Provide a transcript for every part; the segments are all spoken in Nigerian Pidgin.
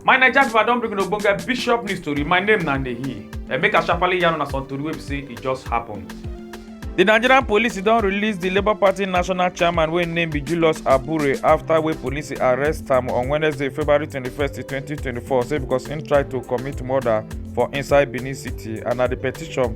my naija pipo i don bring una ogbonge bishop news tori my name na nehi and make i sharparly yarn una some tori wey be say e just happen. di nigerian police don release di labour party national chairman wey im name be julius abure afta wey police arrest am on wednesday february 21 2024 say becos im try to commit murder for inside benin city and na di petition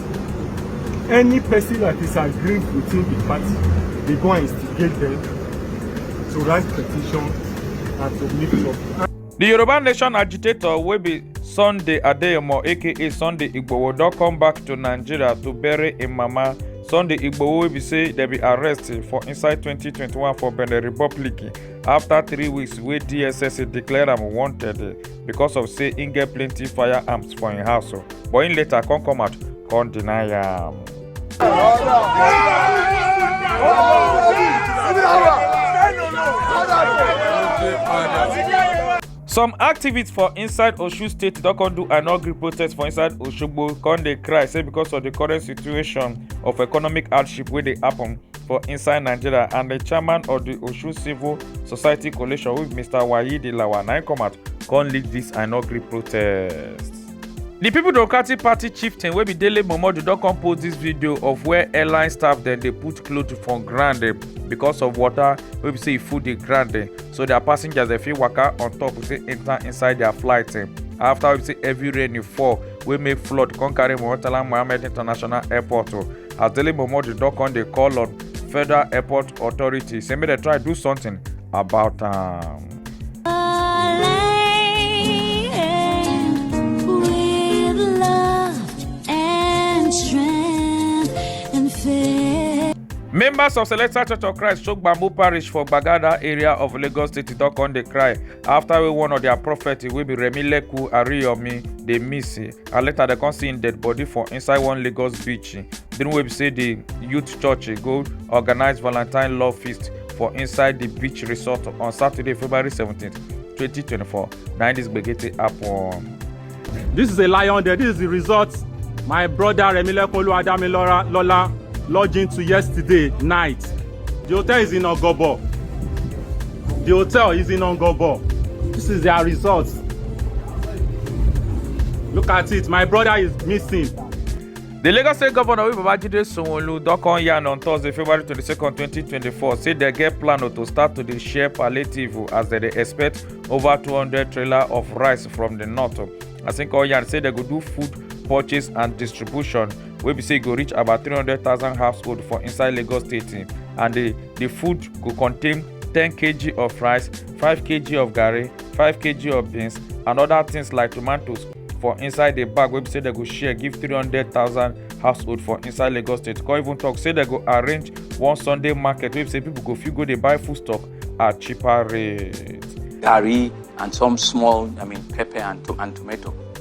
any person that disagree within the party they go and instigate them to write petition and to make trouble. The Yoruba Nation agitator will be Sunday Adeyemo aka Sunday Igboho don come back to Nigeria to bury im mama. Sunday Igboho wey be say dem be arrest for inside 2021 for Benin Republic after three weeks wey DSS declare am wanted. because of say im get plenty firearms for im house o but im later come come out come deny am. some activists for inside osun state don come do an ugly protest for inside osogbo come dey cry say because of the current situation of economic hardship wey dey happen for inside nigeria and the chairman of the osun civil society coalition with mr wayidi lawa na im come out come lead this i no gree protest. The People Democratic Party chieftain wey be Dele Momodu don come post this video of where airline staff dem dey put cloth for ground eh, because of water wey be say e full the ground eh, so their passengers dey fit waka on top we say enter inside their flight eh. after we say heavy rain e fall wey make flood come carry Murtala Mohammed International Airport oh. as Dele Momodu don come dey call on federal airport authority say make dem try do something about am. members of celestial church of christ shook bamboo parish for gbagada area of lagos state don come dey cry after wey one of their prophet wey be remi leku ariyomi dey miss and later dem come see im dead body for inside one lagos beach during wey be say di youth church go organise valentine love feast for inside di beach resort on saturday february 17 2024 na im dis gbege take happen. This is a lion there. This is the result my brother Remilekun Oluwadamilora Lola lodged into yesterday night. The hotel is in Ogobo. The hotel is in Ogobo. This is their resort. Look at it. My brother is missing. The Lagos State Governor Babajide Sanwo-Olu don come yarn on Thursday, February 22, 2024, say dem get plan to start to dey share palliative as dem dey expect over 200 trailer of rice from the north. As im come yarn say dem go do food purchase and distribution wey be say e go reach about 300000 households for inside lagos state um, and di di food go contain 10 kg of rice 5 kg of garri 5 kg of beans and oda tins like tomatoes for inside di bag wey be say dem go share give 300000 households for inside lagos state come even tok say dem go arrange one sunday market wey be say pipo go fit go dey buy foodstuff at cheaper rate. garri and some small i mean pepper and, to- and tomato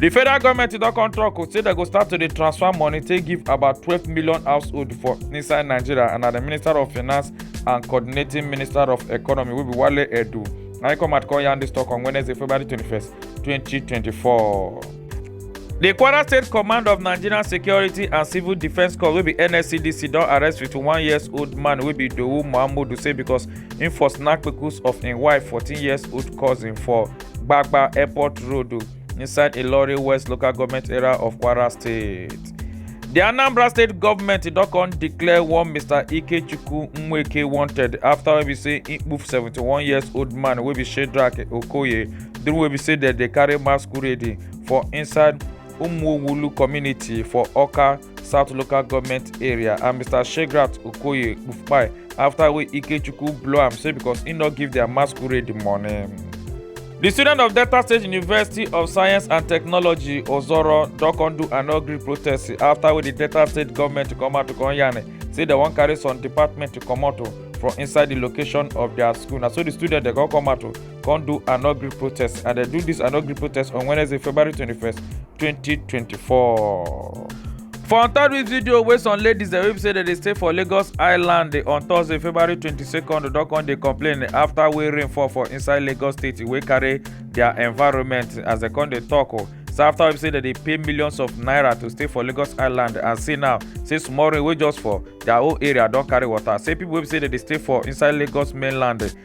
di federal goment don come tok say dem go start to dey transfer money take give about twelve million households for inside nigeria and na di minister of finance and coordinating minister of economy wey be wale edu na im come out come yarn dis tok on wednesday february twenty first twenty twenty four. di kwara state command of nigerian security and civil defence corps wey be nscdc don arrest fifty one years old man wey be dowu muhammadu say because im for snatch kpekus of im wife fourteen years old cousin for gbagba airport road. inside Ilori West local government area of Kwara State. The Anambra State government did not come declare one Mr. Ikechukwu Nweke wanted after we say he moved 71 years old man wey be Shedrack Okoye during wey be say that they carry masquerade for inside Umuwulu community for Oka south local government area and mr shegrat okoye kpufpai after wey ikechukwu blow am say because he no give their masquerade the money. di student of delta state university of science and technology ozoro don come do an ugly protest after wey di delta state government come out to come yarn say dem wan carry some department comot from inside di location of dia school na so di student dem come come out come do an ugly protest and they do this an ugly protest on wednesday february 21st 2024 for on top dis video wey some ladies dem wey say dem dey stay for lagos island on thursday february 22nd don come dey complain after wey rain fall for inside lagos state wey carry their environment as dem come dey tok o oh. so after we say dem dey pay millions of naira to stay for lagos island and see now say small rain wey just fall their whole area don carry water say people wey say dem dey stay for inside lagos mainland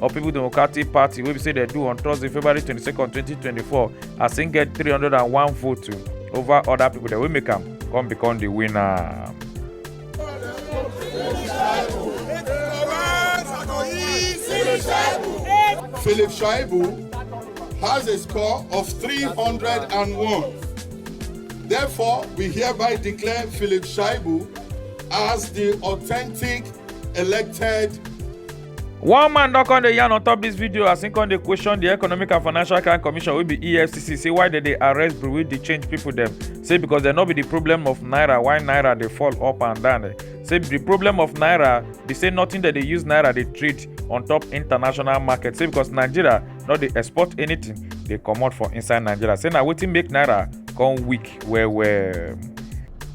or people democratic party wey be say dem do on thursday february 22 2024 as im get 301 votes over other people dem wey make am come become the winner. Philip Shaibu has a score of 301. Therefore, we hereby declare Philip Shaibu as the authentic elected one man don come dey yarn on top dis video as im come dey question di economic and financial crime commission wey be efcc say why dem dey arrest brewery dey change pipo dem say because dem no be di problem of naira why naira dey fall up and down eh. say di problem of naira be say nothing dem dey use naira dey trade on top international market say because nigeria no dey export anything dey comot for inside nigeria say na wetin make naira come weak well well.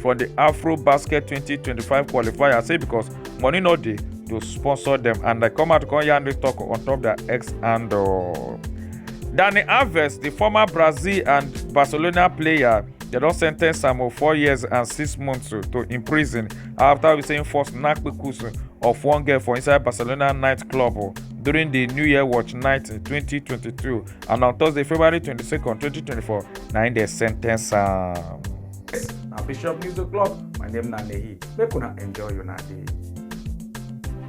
for the afro basket 2025 qualifier say because money no dey to sponsor them and dem come out come yarn this talk on top their ex handle. Dani Alves, the former Brazil and Barcelona player, they don sen ten ce am for four years and six months to, to in prison after we say im force knack kpekusu of one girl for inside Barcelona nightclub oh, during the New Year watch night in 2022 and on Thursday, February 22nd, 2024, na im dem sen ten ce am. Yes, na Bishop News O'Clock. My name na Nehi. Make una enjoy una day.